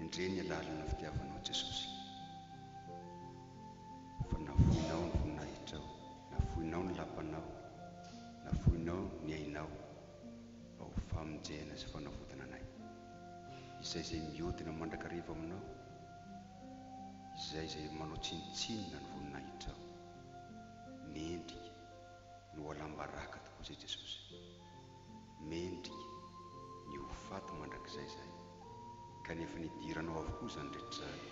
Endrey ny alalana fitiavanao Jesosy Fa nafoinao ny voninahitrao Nafoinao ny lapanao Nafoinao ny ainao Mba ho famonjena sy fanavotana anay Izay izay miodina mandrakariva aminao Izay izay manao tsinontsinona ny voninahitrao Mendrika ny ho alam-baraka tokoa izay Jesosy. Mendrika ny ho faty mandrakizay izay, kanefa nidiranao avokoa izany rehetra izany,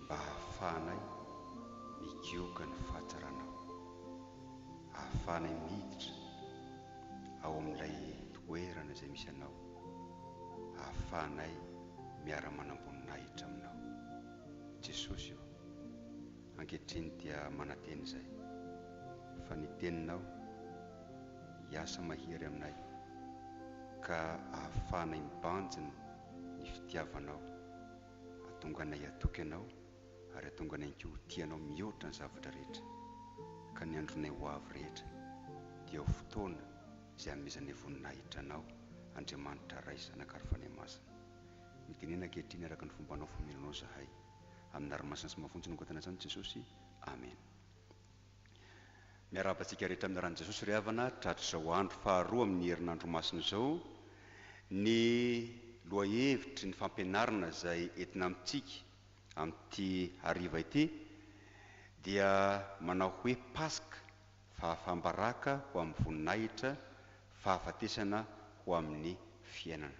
mba hahafahanay migioka ny fahatsaranao, hahafahanay miditra ao amin'ilay toerana izay misy anao, hahafahanay miara-manamboninahitra aminao. Jesosy ô, Ankehitriny dia manantena izay, fa ny Teninao hiasa mahery aminay, ka ahafahanay mibanjina ny fitiavanao, hahatonga anay hatoky Anao, ary hahatonga anay ihany koa ho tia Anao mihoatra ny zavatra rehetra, ka ny andronay ho avy rehetra dia ho fotoana izay hamehezanay voninahitra Anao, Andriamanitra Ray, Zanaka ary Fanahy Masina. Mitenena ankehitriny araka ny fombanao famelonao izahay. Amina ry masina sy mafonja no angatahina antsany Jesosy Amen. Miarahaba antsika rehetra amina ran'i Jesosy ry havana tratr'izao andro faharoa amin'ny herinandro masina izao ny lohahevitry ny fampianarana izay entina amintsika amin'ity hariva ity dia manao hoe Paska fahafam-baraka ho amin'ny voninahitra fahafatesana ho amin'ny fiainana.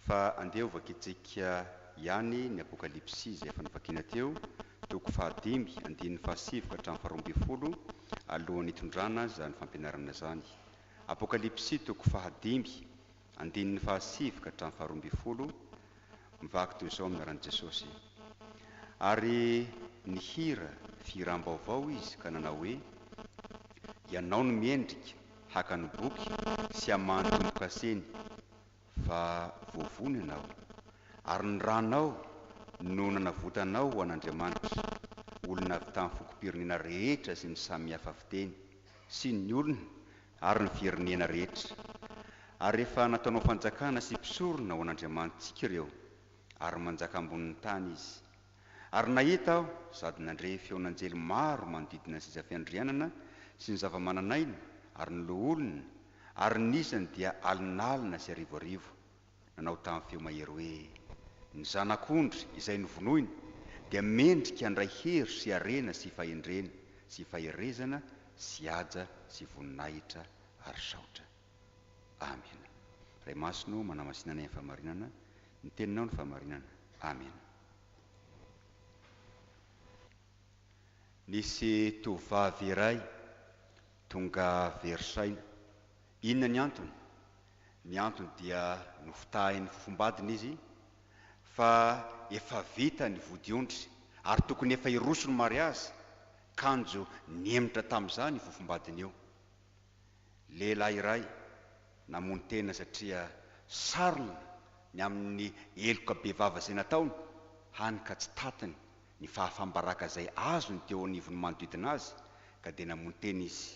Fa andeha ho vakintsika ihany ny Apokalypsy izay efa novakina teo, toko fahadimy, andininy fahasivy ka hatramin'ny faharoa ambin'ny folo, alohan'ny hitondrana izany fampianarana izany. Apokalypsy toko fahadimy, andininy fahasivy ka hatramin'ny faharoa ambin'ny folo, mivaky toy izao amin'ny anaran'i Jesosy. Ary nihira fihiram-baovao izy ka nanao hoe, Ianao no miendrika, haka ny boky sy hamaha ny tombokaseny va voavono ianao, ary ny ranao no nanavotanao ho an'Andriamanitra, olona avy tamin'ny fokom-pirenena rehetra sy ny samihafa fiteny, sy ny olona ary ny firenena rehetra, ary efa nataonao fanjakana sy mpisorona ho an'Andriamanitsika ireo, ary manjaka ambonin'ny tany izy. Ary nahita aho sady nandre feon'anjely maro manodidina ny sezafiandrianana sy ny zavamananaina ary ny loholona, ary ny isany dia alinalina sy arivoarivo, nanao tamin'ny feo mahery hoe, Ny Zanak'ondry izay novonoina dia mendrika handray hery sy harena sy fahendrena sy faherezana sy haja sy voninahitra ary saotra. Amena. Ray Masina ô, manamasinanay amin'ny fahamarinana, Ny teninao no fahamarinana. Amena. Nisy tovovavy iray tonga very saina. Inona ny antony? Ny antony dia nofitahin'ny fofombadiny izy fa efa vita ny vodiondry ary tokony efa hiroso ny mariazy, kanjo nihemotra tamin'izany io fofombadiny io. Lehilahy iray namono tena satria sarona ny amin'ny heloka bevava izay nataony, hany ka tsy tatiny ny fahafam-baraka izay azony teo anivon'ny manodidina azy ka dia namono tena izy.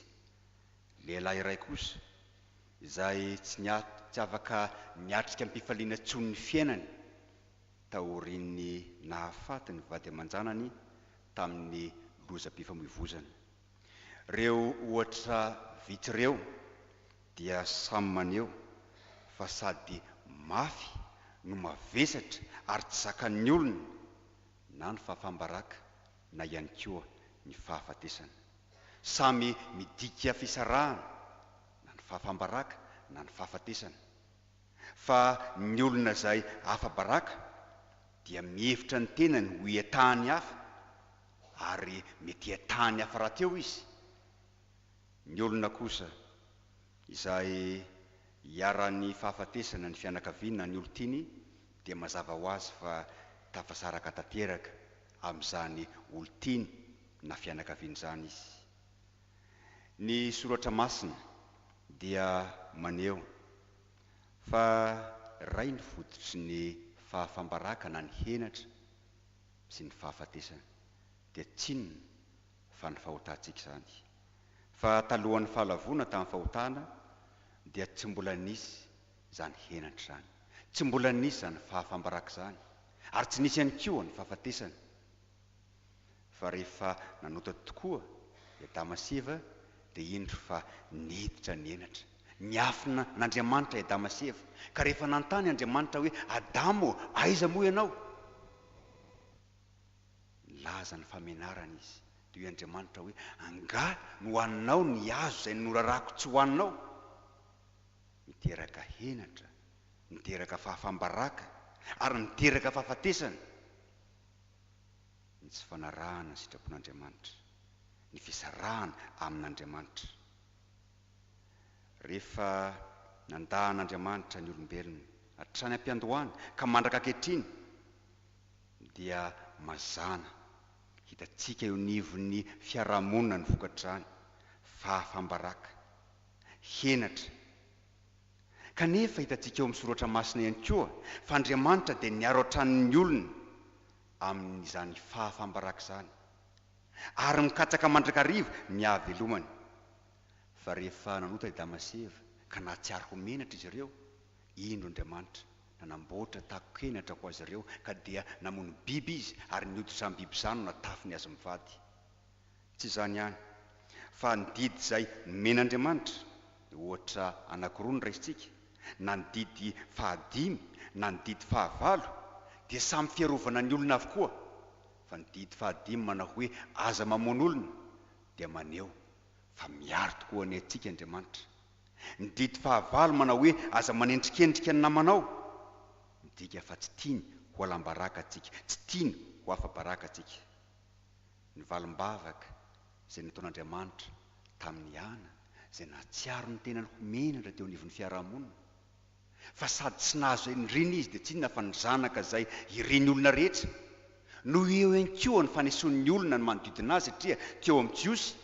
Lehilahy iray kosa, izay tsy tsy afaka niatrika am-pifaliana intsony ny fiainany taorian'ny nahafaty ny vady aman-janany tamin'ny lozam-pifamoivoizana. Reo ohatra vitsy reo dia samy maneho fa sady mafy no mavesatra ary tsy zakan'ny olona na ny fahafaham-baraka na ihany koa ny fahafatesana. Samy midika fisarahana na ny fahafaham-baraka na ny fahafatesana. Fa ny olona izay afa-baraka dia mihevitra ny tenany ho iatahan'ny hafa ary mety hiatany hafa rahateo izy. Ny olona kosa izay iharan'ny fahafatesana ny fianakaviany na ny olon-tiany dia mazava ho azy fa tafasaraka tanteraka amin'izany olon-tiany na fianakaviany izany izy. Ny Soratra Masina dia maneho fa iray ny fototry ny fahafam-baraka na ny henatra. sy ny fahafatesana dia tsinona fa ny fahotantsika izany. Fa talohan'ny fahalavoana tamin'ny fahotana dia tsy mbola nisy izany henatra izany, tsy mbola nisy izany fahafam-baraka izany, ary tsy nisy ihany koa ny fahafatesana. Fa rehefa nanota tokoa i Adama sy Eva dia indro fa niditra ny henatra. Niafina an'Andriamanitra i Adama sy Eva, ka rehefa nanontany Andriamanitra hoe, Adama ô, aiza moa ianao? Nilaza ny famenarany izy, dia hoy Andriamanitra hoe, Angaha nohaninao ny hazo izay norarako tsy hohaninao? Miteraka henatra, miteraka fahafam-baraka, ary miteraka fahafatesana ny tsy fanarahana ny sitrapon'Andriamanitra, ny fisarahana amin'Andriamanitra. Rehefa nanda an'Andriamanitra ny olombelona hatrany am-piandohana ka mandraka ankehitriny dia mazàna hitantsika eo anivon'ny fiarahamonina ny vokatr'izany fahafam-baraka, henatra. Kanefa hitantsika eo amin'ny Soratra Masina ihany koa fa Andriamanitra dia niaro hatrany ny olony amin'izany fahafam-baraka izany. ary mikatsaka mandrakariva ny hahavelomany. Fa rehefa nanota i Adama sy Eva ka nahatsiaro ho menatra izy ireo, indro Andriamanitra nanamboatra takon-kenatra ho azy ireo ka dia namono biby Izy ary ny hoditra amin'ny biby izany no natafiny azy mivady. Tsy izany ihany, fa ny didy izay nomen'Andriamanitra, ohatra anankiroa no raisintsika, na ny didy fahadimy na ny didy fahavalo, dia samy fiarovana ny olona avokoa, Fa ny didy fahadimy manao hoe aza mamono olona dia maneho fa miaro tokoa ny antsika Andriamanitra. Ny didy fahavalo manao hoe aza manendrikendrika ny namanao, midika fa tsy tiany ho alam-baraka antsika, tsy tiany ho afa-baraka antsika. Ny valim-bavaka izay nataon'Andriamanitra tamin'i Ana, izay nahatsiaro ny tenany ho menatra teo anivon'ny fiarahamonina, fa sady tsy nahazo an'i Reny izy dia tsy inona fa ny zanaka izay ireny olona rehetra no eo ihany koa ny fanesoan'ny olona ny manodidina azy satria teo amin'ny Jiosy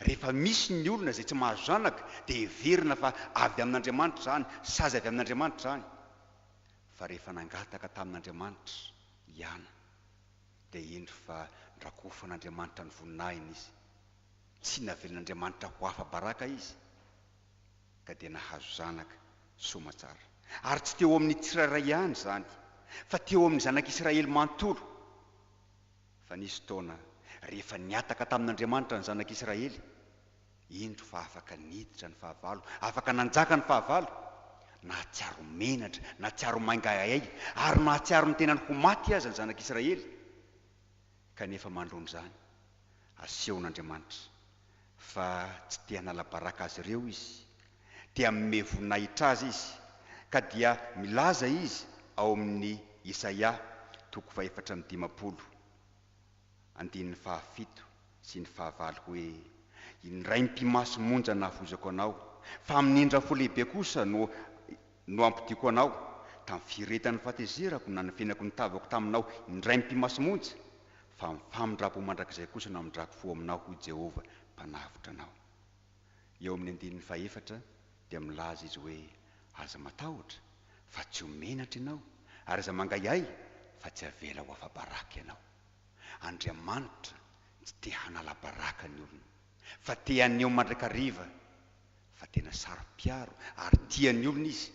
rehefa misy ny olona izay tsy mahazo zanaka dia heverina fa avy amin'Andriamanitra izany sazy avy amin'Andriamanitra izany fa rehefa nangataka tamin'Andriamanitra i Ana dia hendry fa norakofan'Andriamanitra ny voninahiny izy tsy navelan'Andriamanitra ho afa-baraka izy. ka dia nahazo zanaka soamatsara. Ary tsy teo amin'ny tsirairay ihany izany, fa teo amin'ny zanak'Israely manontolo. Fa nisy fotoana rehefa nihataka tamin'Andriamanitra ny zanak'Israely, indro fa afaka niditra ny fahavalo, afaka nanjaka ny fahavalo. Nahatsiaro menatra, nahatsiaro maingaaiainga, ary nahatsiaro ny tenany ho maty aza ny zanak'Israely. Kanefa manoloana izany, asehon'Andriamanitra fa tsy te hanala baraka azy ireo Izy. Te hanome voninahitra Azy Izy, ka dia milaza Izy ao amin'ny Isaia toko fahefatra amby dimampolo, andininy fahafito sy ny fahavalo hoe, Indray mpimaso monja nahavoizako anao, fa amin'indra fo lehibe kosa no no ampodiako anao, tamin'ny firetan'ny fahatezerako nanafenako ny tavako taminao indray mpimasy monja, fa amin'ny famindram-po mandrakizay kosa no hamindrako fo aminao, hoy Jehovah, Mpanavotra anao. Eo amin'ny andininy fahefatra dia milaza izy hoe, Aza matahotra, fa tsy ho menatra ianao, ary aza mangahiahy, fa tsy avela ho afa-baraka ianao. Andriamanitra tsy te hanala baraka ny olony. Fa te haneho mandrakariva fa tena saro-piaro ary tia ny olona izy.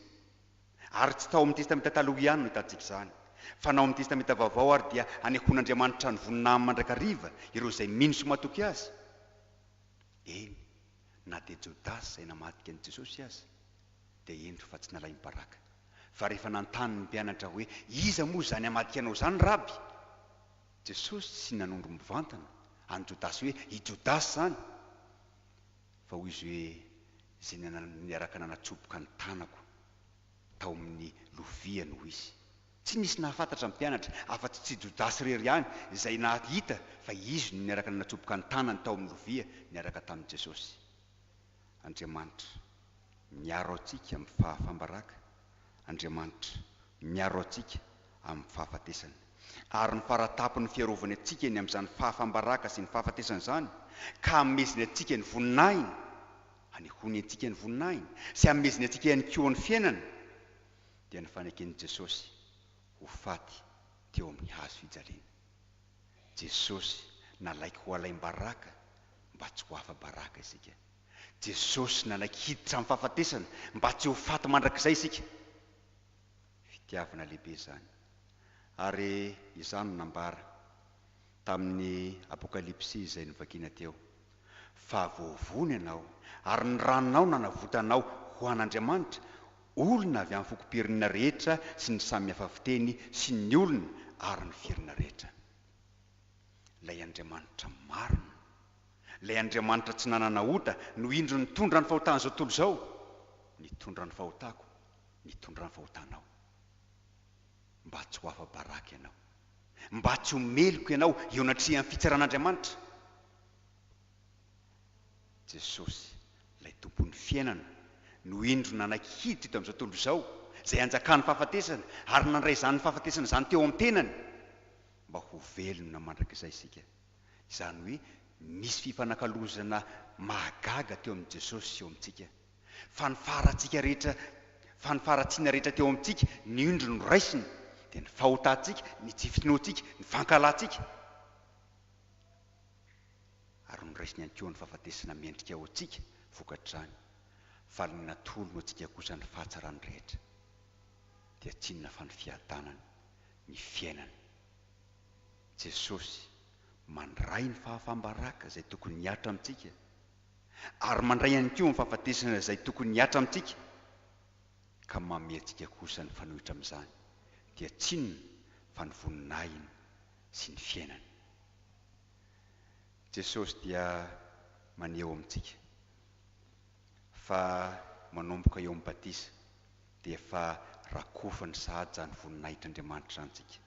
Ary tsy tao amin'ny Testamenta Taloha ihany no ahitantsika izany, fa na ao amin'ny Testamenta Vaovao ary dia hanehoan'Andriamanitra ny voninahy amin'ny mandrakariva ireo izay mino sy matoky Azy. Eny, na dia Jodasy izay namadika an'i Jesosy aza dia hendry fa tsy nalaim-baraka. Fa rehefa nanontany ny mpianatra hoe, Iza moa izany hamadika Anao izany, Raby? Jesosy tsy nanondro mivantana an'i Jodasy hoe i Jodasy izany, fa hoy izy hoe, Izay niaraka nanatsoboka ny tanako tao amin'ny loviany, hoy izy. Tsy nisy nahafantatra ny mpianatra afa-tsy tsy Jodasy irery ihany izay nahita fa izy no niaraka nanatsoboka ny tanany tao amin'ny lovia niaraka tamin'i Jesosy. Andriamanitra, miaro antsika amin'ny fahafam-baraka, Andriamanitra, miaro antsika amin'ny fahafatesana. Ary ny faratapony fiarovany antsika ny amin'izany fahafam-baraka sy ny fahafatesana izany, ka hameziny antsika ny voninahiny, hanehoany antsika ny voninahiny, sy hameziny antsika ihany koa ny fiainana, dia ny faneken'i Jesosy ho faty teo amin'ny hazo fijaliana. Jesosy nalaiky ho alaim-baraka mba tsy ho afa-baraka isika. Jesosy nanaiky hiditra amin'ny fahafatesana mba tsy ho faty mandrakizay isika. Fitiavana lehibe izany. Ary izany no nambara tamin'ny Apokalypsy izay novakina teo. Fa voavono ianao, ary ny ranao nanavotanao ho an'Andriamanitra, olona avy amin'ny fokom-pirnina rehetra sy ny samy hafa fiteny sy ny olona ary ny firina rehetra. Ilay Andriamanitra marina, ilay Andriamanitra tsy nanana ota no indro nitondra ny fahotan'izao tontolo izao, nitondra ny fahotako, nitondra ny fahotanao. Mba tsy ho afa-baraka ianao. Mba tsy ho meloka ianao eo anatrehan'ny fitsaran'Andriamanitra. Jesosy, ilay Tompon'ny fiainana, no indro nanaiky hiditra tamin'izao tontolo izao, izay hanjakan'ny fahafatesana, ary nandray izany fahafatesana izany teo amin'ny tenany, mba ho velona mandrakizay isika. Izany hoe nisy fifanakalozana mahagaga teo amin'i Jesosy sy eo amintsika. Fa ny faharatsika rehetra, fa ny faharatsiana rehetra teo amintsika, ny indro noraisiny, dia ny fahotantsika, ny tsy finoantsika, ny fankahalantsika. ary noraisiny ihany koa ny fahafatesana mendrika ho antsika vokatr'izany, faly ny natolony ho antsika kosa ny fahatsarany rehetra, dia tsy inona fa ny fiadanana, ny fiainana. Jesosy mandray ny fahafam-baraka izay tokony hihatra amintsika, ary mandray ihany koa ny fahafatesana izay tokony hihatra amintsika, ka manome antsika kosa ny fanohitra amin'izany, dia tsy inona fa ny voninahiny, sy ny fiainany. Jesosy dia maneho amintsika fa manomboka eo amin'ny batisa dia efa rakofany sahady izany voninahitr'Andriamanitra izany tsika.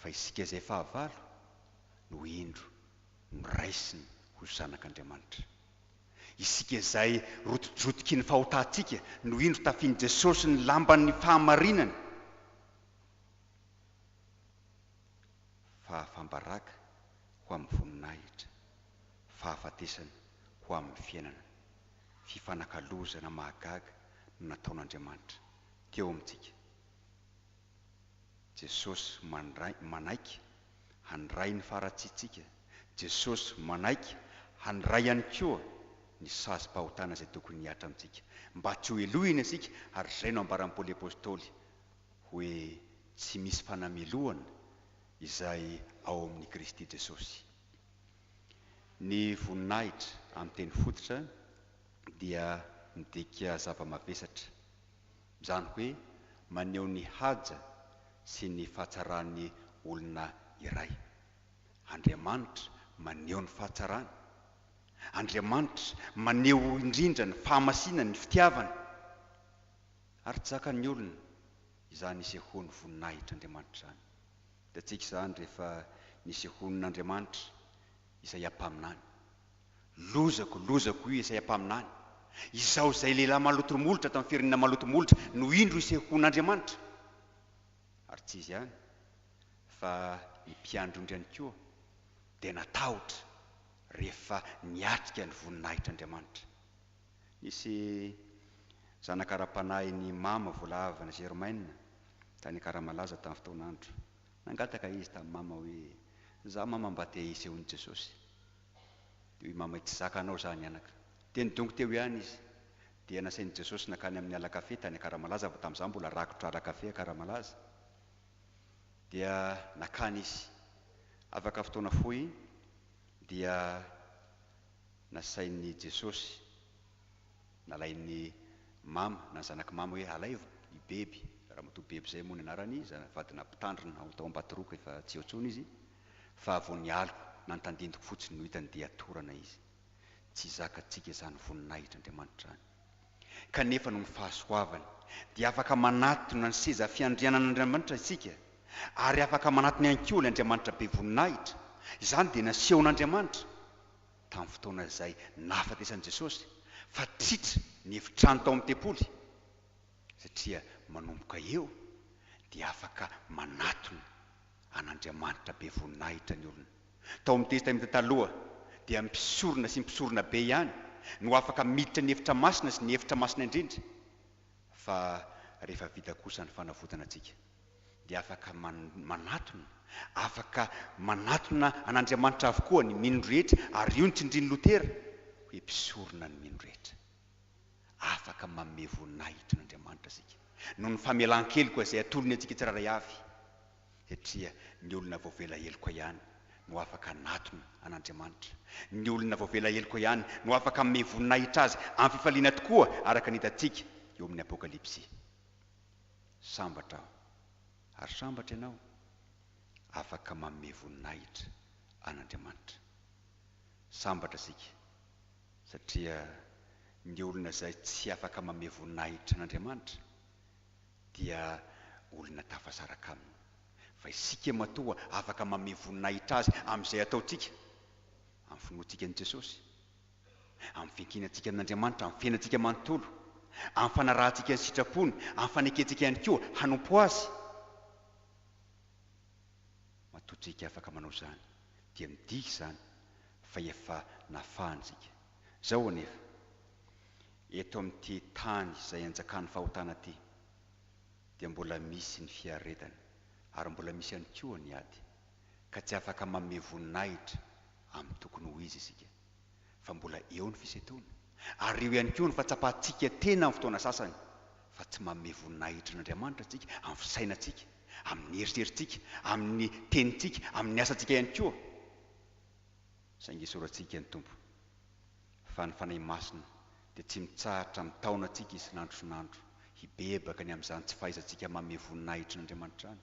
Fa isika izay fahavalo no indro noraisiny ho zanak'Andriamanitra. Isika izay rotojotoky ny fahotantsika no indro tafian'i Jesosy ny lamban'ny fahamarinany. Fahafam-baraka ho amin'ny voninahitra, fahafatesana ho amin'ny fiainana. Fifanakalozana mahagaga no nataon'Andriamanitra teo amintsika. Jesosy mandray manaiky handray ny faharatsiantsika. Jesosy manaiky handray ihany koa ny sazim-pahotana izay tokony hihatra amintsika mba tsy hohelohina isika ary izay no ambaran'i Paoly Apostoly. hoe tsy misy fanamelohana izay ao amin'i Kristy Jesosy. Ny voninahitra amin'ny teny fototra dia midika zava-mavesatra, izany hoe maneho ny haja sy ny fahatsaran'ny olona iray. Andriamanitra maneho ny fahatsarany. Andriamanitra maneho indrindra ny fahamasinany, ny fitiavany. Ary jakan'ny olona izany isehoan'ny voninahitr'Andriamanitra izany. Hitantsika izany rehefa nisehoan'Andriamanitra Isaia mpaminany. Lozako, lozako hoy Isaia mpaminany, izaho izay lehilahy maloto molotra tamin'ny firenena maloto molotra no indro isehoan'Andriamanitra! Ary tsy izy ihany fa ny mpiandry ondry ihany koa dia natahotra rehefa niatrika ny voninahitr'Andriamanitra. Nisy zanaka ara-panahin'i Mama voalavo any Germaine, tany Akaramalaza tamin'ny fotoan'andro. Nangataka izy tamin'i Mama hoe, Izaho Mama mba te hiseho an'i Jesosy. Dia hoy Mama, Tsy zakanao izany anaka. Dia nidongy teo ihany izy. Dia nasain'i Jesosy nankany amin'ny ala kafe tany Akaramalaza, fa tamin'izaho mbola rakotra ala kafe Akaramalaza. Dia nankany izy. Afaka fotoana fohy dia Nasain'i Jesosy, nalain'i Mama na zanak'i Mama hoe alaivo i Beby, Ramatoa Beby izay moa ny anarany, za vadina mpitandrina ao tao Ambatoroko efa tsy eo intsony izy, fa vao nialiko na ny tandindoko fotsiny no hitany dia torana izy. Tsy zakantsika izany voninahitr'Andriamanitra izany. Kanefa noho ny fahasoavany dia afaka manatona ny seza fiandrianan'Andriamanitra isika ary afaka manatona ihany koa ilay Andriamanitra be voninahitra. Izany dia nasehon'Andriamanitra. tamin'ny fotoana izay nahafatesan'i Jesosy fa tritra ny efitrano tao amin'ny tempoly, satria manomboka eo dia afaka manatona an'Andriamanitra be voninahitra ny olona. Tao amin'ny Testamenta Taloha dia mpisorona sy mpisorona be ihany no afaka miditra ny efitra masina sy ny efitra masina indrindra, fa rehefa vita kosa ny fanavotana antsika. dia afaka manatona, afaka manatona an'Andriamanitra avokoa ny mino rehetra, ary io no tsindrin'i Lotera hoe mpisorona ny mino rehetra. Afaka manome voninahitra an'Andriamanitra isika noho ny famelan-keloka izay atolony antsika tsirairay avy, satria ny olona voavela heloka ihany no afaka hanatona an'Andriamanitra, ny olona voavela heloka ihany no afaka hanome voninahitra Azy amin'ny fifaliana tokoa, araka ny hitantsika eo amin'ny Apokalypsy. Sambatra aho. Ary sambatra ianao? Afaka manome voninahitra an'Andriamanitra. Sambatra isika, satria ny olona izay tsy afaka manome voninahitra an'Andriamanitra dia olona tafasaraka Aminy. Fa isika matoa afaka manome voninahitra Azy amin'izay ataontsika, amin'ny finoantsika an'i Jesosy, Amin'ny fiankinantsika amin'Andriamanitra, amin'ny fiainantsika manontolo, amin'ny fanarahantsika ny sitrapony, amin'ny fanekentsika ihany koa hanompo Azy, matoa tsika afaka manao izany, dia midika izany fa efa nafahantsika. Izao anefa, eto amin'ity tany izay anjakan'ny fahotana ity, dia mbola misy ny fiaretana, ary mbola misy ihany koa ny ady, ka tsy afaka manome voninahitra amin'ny tokony ho izy isika. fa mbola eo ny fisetroana, ary eo ihany koa ny fahatsapan-tsika tena amin'ny fotoana sasany fa tsy manome voninahitra an'Andriamanitra isika amin'ny fisainantsika, amin'ny eritreritsika, amin'ny tenintsika, amin'ny asantsika ihany koa, saingy esorantsika ny Tompo, fa ny Fanahy Masina dia tsy mitsahatra mitaona antsika isan'andro isan'andro hibebaka ny amin'izany tsy fahaizantsika manome voninahitra an'Andriamanitra izany.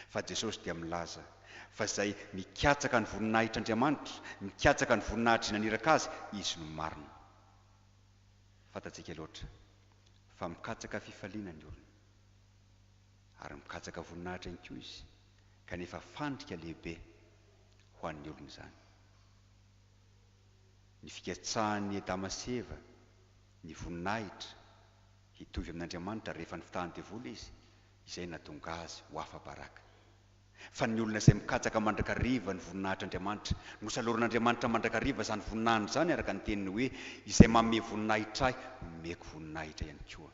Fa Jesosy dia milaza fa izay mikatsaka ny voninahitr'Andriamanitra, mikatsaka ny voninahitry naniraka Azy, izy no marina. Fantatsika loatra fa mikatsaka fifaliana ny olona. Ary mikatsaka voninahitra ihany koa izy, kanefa fandrika lehibe ho an'ny olona izany. Ny fikatsahan'i Adama sy Eva ny voninahitra hitovy amin'Andriamanitra rehefa nifitahan'ny devoly izy, izay nahatonga azy ho afa-baraka. Fa ny olona izay mikatsaka mandrakariva ny voninahitr'Andriamanitra, nosalorin'Andriamanitra mandrakariva izany voninahiny izany, araka ny teniny hoe, Izay manome voninahitra ahy, nomeko voninahitra ihany koa.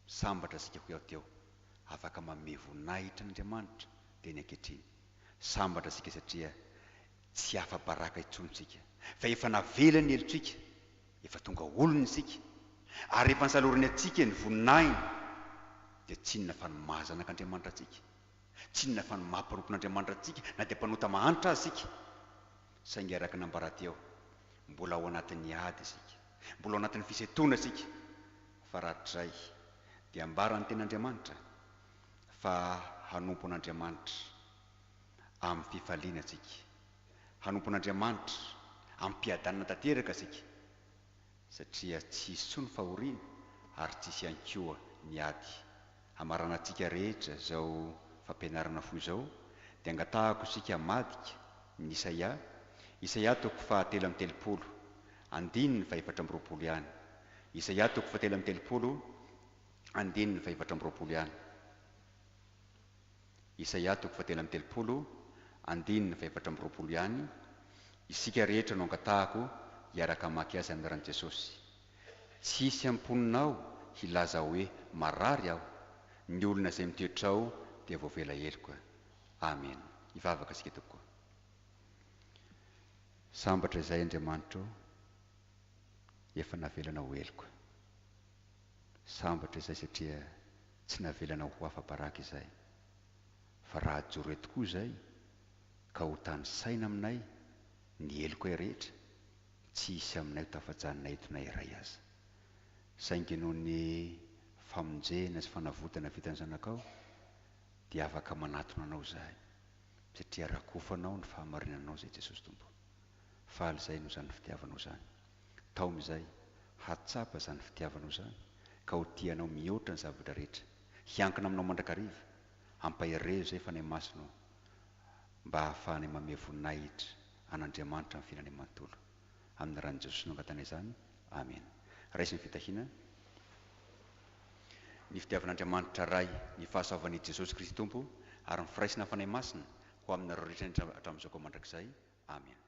Sambatra isika hoy aho teo, afaka manome voninahitra an'Andriamanitra ve ny ankehitriny? Sambatra isika satria tsy afa-baraka intsony isika, fa efa navela ny helotsika Efa tonga olona isika, ary rehefa nosalorin'ny hatsiaka ny voninahiny, dia tsinona fa ny maha zanak'Andriamanitra antsika, tsinona fa ny maha mpanompon'Andriamanitra antsika, na dia mpanota mahantra aza isika. Saingy araka ny ambaraty eo, mbola ao anatin'ny ady isika, mbola ao anatin'ny fisentoana isika, fa rahatrizay dia ambaran'ny Tenin'Andriamanitra fa hanompo an'Andriamanitra amin'ny fifaliana isika. Hanompon'Andriamanitra, ampiadanina tanteraka isika, satria tsy hisy intsony fahoriana ary tsy hisy ihany koa ny ady. Hamaranantsika rehetra izao fampianarana fohy izao, dia angatahako isika hamadika ny Isaia, Isaia toko fahatelo amby telopolo, andininy fahefatra amby roapolo ihany. Isaia toko fahatelo amby telopolo, andininy fahefatra amby roapolo ihany. Isaia toko fahatelo amby telopolo, andininy fahefatra amby roapolo ihany, Isika rehetra no angatahako hiaraka hamaky azy amin'ny ran'i Jesosy. Tsy hisy am-ponina ao hilaza hoe marary aho, ny olona izay mitoetra ao dia voavela heloka. Amen. Hivavaka isika tompoko. Sambatra izahay Andriamanitro efa navelanao ho heloka. Sambatra izay satria tsy navelanao ho afa-baraka izay. Fa raha hajoro eto koa izay ka ho tanisaina aminay ny helokay rehetra, tsy hisy aminay ho tafajanona eto na iray aza. Saingy noho ny famonjena sy fanavotana vitan'ny Zanakao, dia afaka manatona Anao izahay, satria rakofanao ny fahamarinanao izay Jesosy Tompo. Faly izay noho izany fitiavanao izany. Taomy izay, hatsapa izany fitiavanao izany, ka ho tia Anao mihoatra ny zavatra rehetra. Hiankina aminao mandrakariva. Ampaherezo izay Fanahy Masina ô, mba hahafahanay manome voninahitra an' Andriamanitra amin'ny filany manontolo. Amin'ny ran'i Jesosy no angatahina izany. Amena. Raiso ny fitahiana. Ny fitiavan'Andriamanitra Ray, ny fahasoavan' i Jesosy Kristy Tompo, ary ny firaisana Fanahy Masina, Ho aminareo rehetra indrindra hatramin'izao ka mandrakizay. Amena.